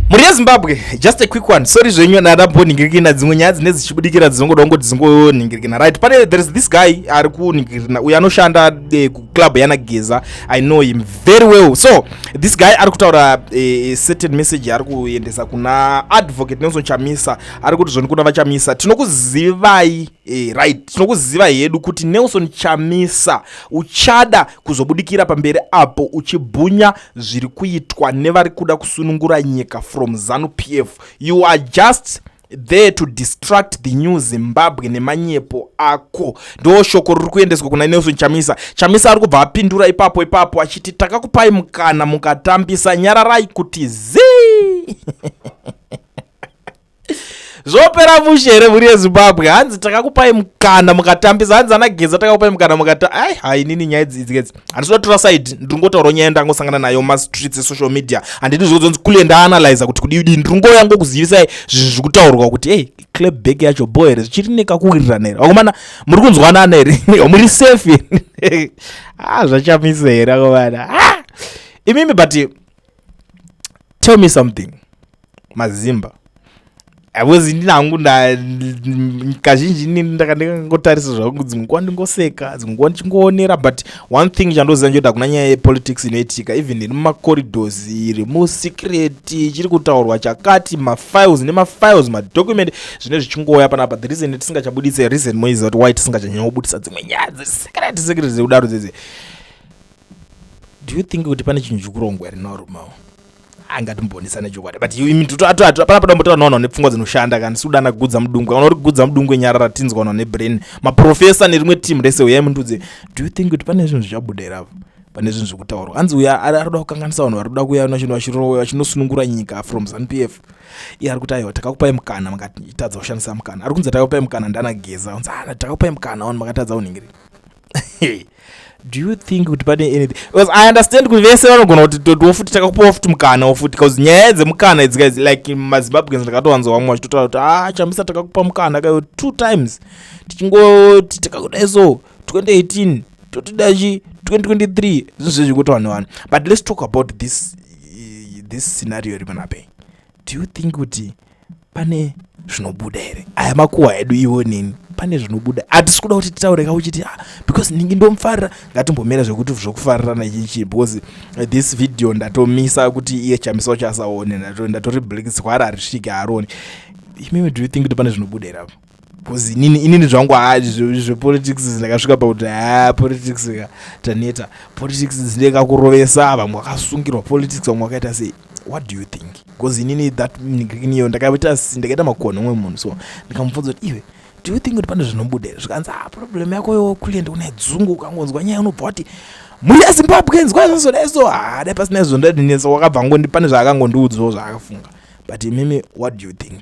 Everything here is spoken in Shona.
mhuri yezimbabwe just a quick one sorry zvenyu nadambonhingirikina dzimwe nyaya dzine dzichibudikira dzinongoda kungoti dzingonhingirikina right pane there is this guy ari kunhingirikina uyo anoshanda eh, kuclub yana geza i know him very well so this guy ari kutaura eh, certain message ari kuendesa kuna advocate nelson chamisa ari kuti zvoni kuna vachamisa tinokuzivai Eh, right tinokuziva hedu kuti nelson chamisa uchada kuzobudikira pamberi apo uchibhunya zviri kuitwa nevari kuda kusunungura nyika from zanu p f you are just there to distract the new zimbabwe nemanyepo ako ndo shoko riri kuendeswa kuna nelson chamisa chamisa ari kubva apindura ipapo ipapo achiti takakupai mukana mukatambisa nyararai kuti zii zvopera mushe here mhuri yezimbabwe hanzi takakupai mukana mukatambisa hanzi ana geza takakupai mukana mukata ai hainini nyaya idziidzikezi handisi kudatora saidi ndiri ngotaura nyaya yandangosangana nayo mumastreets esocial media handidi zvokudzonzi kule ndaanalyza kuti kudiidii ndiri ngoya ngokuzivisai zvinhu zviri kutaurwa kuti hey clap back yacho bo here zvichiri nekakuwirirana here vakomana muri kunzwanana here muri safe here ah zvachamisa here vakomana ah! imimi but tell me something mazimba haiwezi ndini hangu kazhinji nini ndakandikangotarisa zvangu dzimwe nguva ndingoseka dzimwe nguva ndichingoonera but one thing chandoziva njoda kuna nyaya yepolitics inoitika even iri mumacorridors iri musecreti chiri kutaurwa chakati mafiles nemafiles madocument zvine zvichingouya panapa the reason tisingachabudise reason moiziva kuti why tisingachanyanyobudisa dzimwe nyaya dzesecreti secreti dzekudaro dzedze do you think kuti pane chinhu chikurongwa here naurumao angatimbonisane chokwadi but hapana padombotaura nawanhu ane pfungwa dzinoshanda kani siudana gudza mudungwe kana uri kugudza mudungwe nyarara tinzwa wanhu ane brain maprofesa nerimwe team rese uyai mundudze do you think kuti pane zvinhu zvichabudera apo pane zvinhu zviri kutaurwa hanzi uya arikuda kukanganisa vanhu vari kuda kuuya vachinosunungura nyika from zanupf iye ari kuti aiwa takakupai mukana makatadza kushandisa mukana ari kunzi takakupai mukana ndanageza anzi ana ah, takakupai mukana wanu makatadza unhingirira do you think kuti pane anything because i understand kuti vese vanogona kuti totiwo futi takakupawo futi mukanawo futi bcause nyaya dzemukana idzi guys like mazimbabweans ndakatowanza vamwe vachitotaura kuti ah chamisa takakupa mukana kayo two times tichingoti takakudai so 2018 totida chi 2023 zvinhu zvezvekuti vanhu vanhu but let's talk about this this scenario ripanapei do you think kuti pane zvinobuda here aya makuwa edu iwo nini pane zvinobuda hatisi kuda kuti titaure ka uchiti ah, because ndingi ndomufarira ngatimbomira zvekuti zvokufarirana chichi because eh, this video ndatomisa kuti iye chamisa wacho asaone ndatori black zwara harisvike haroni imimi do you think kuti pane zvinobuda here apo bcause inini inini zvangu haa zvepolitics zindakasvika pakuti haa politics ka taneta politics dzinde kakurovesa vamwe vakasungirwa politics vamwe vakaita sei what do you think bcause inini that niyo ndakaita ndakaita makonho umwe munhu so ndikamupfudza kuti iwe do you think kuti pane zvinobuda here zvikanzi ha ah, problem yako yo kuliendi kuna dzungu ukangonzwa nyaya unobva wati mhuri yazimbabwe nzwa zvazodai so haa ah, dai pasina izvo ndadinesa wakabva ngondi pane zvaakangondiudzwawo zvaakafunga but imimi what do you think